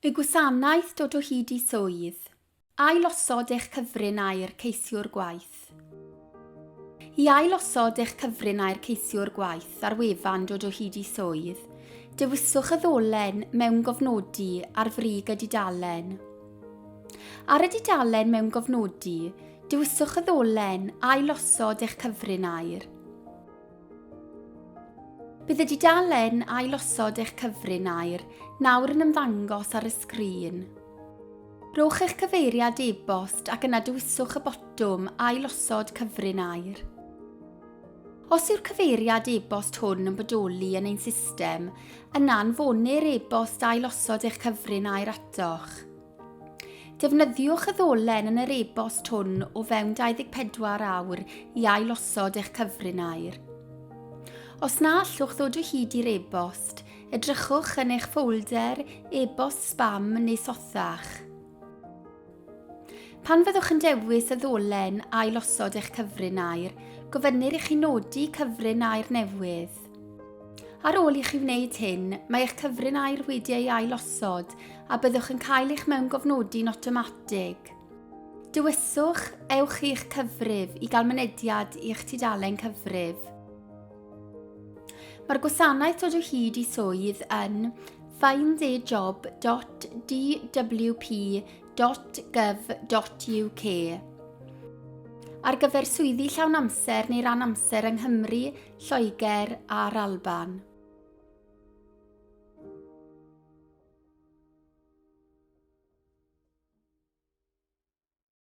Y gwasanaeth dod o hyd i swydd. Ailosod eich cyfrin aer ceisiwr gwaith. I ailosod eich cyfrin aer ceisiwr gwaith ar wefan dod o hyd i swydd, dewiswch y ddolen mewn gofnodi ar frig y dudalen. Ar y dudalen mewn gofnodi, dewiswch y ddolen Ailosod eich cyfrin aer. Bydd y dudalen ailosod eich cyfrin air nawr yn ymddangos ar y sgrin. Rhowch eich cyfeiriad e-bost ac yna dewiswch y botwm Ailosod Cyfrin Air. Os yw'r cyfeiriad e-bost hwn yn bodoli yn ein system, yna anfonir e-bost ailosod eich cyfrin air atoch. Defnyddiwch y ddolen yn yr e-bost hwn o fewn 24 awr i ailosod eich cyfrin aer. Os na allwch ddod o hyd i'r e-bost, edrychwch yn eich ffolder e-bost spam neu sothach. Pan fyddwch yn dewis y ddolen ailosod eich cyfrin aer, gofynnir i chi nodi cyfrin aer newydd. Ar ôl i chi wneud hyn, mae eich cyfrin air wedi ei ailosod a byddwch yn cael eich mewngofnodi'n awtomatig. Dewiswch Ewch i'ch cyfrif i gael mynediad i'ch tudalen cyfrif. Mae'r gwasanaeth dod o hyd i swydd yn findajob.dwp.gov.uk. Ar gyfer swyddi llawn amser neu ran amser yng Nghymru Lloegr a'r Alban.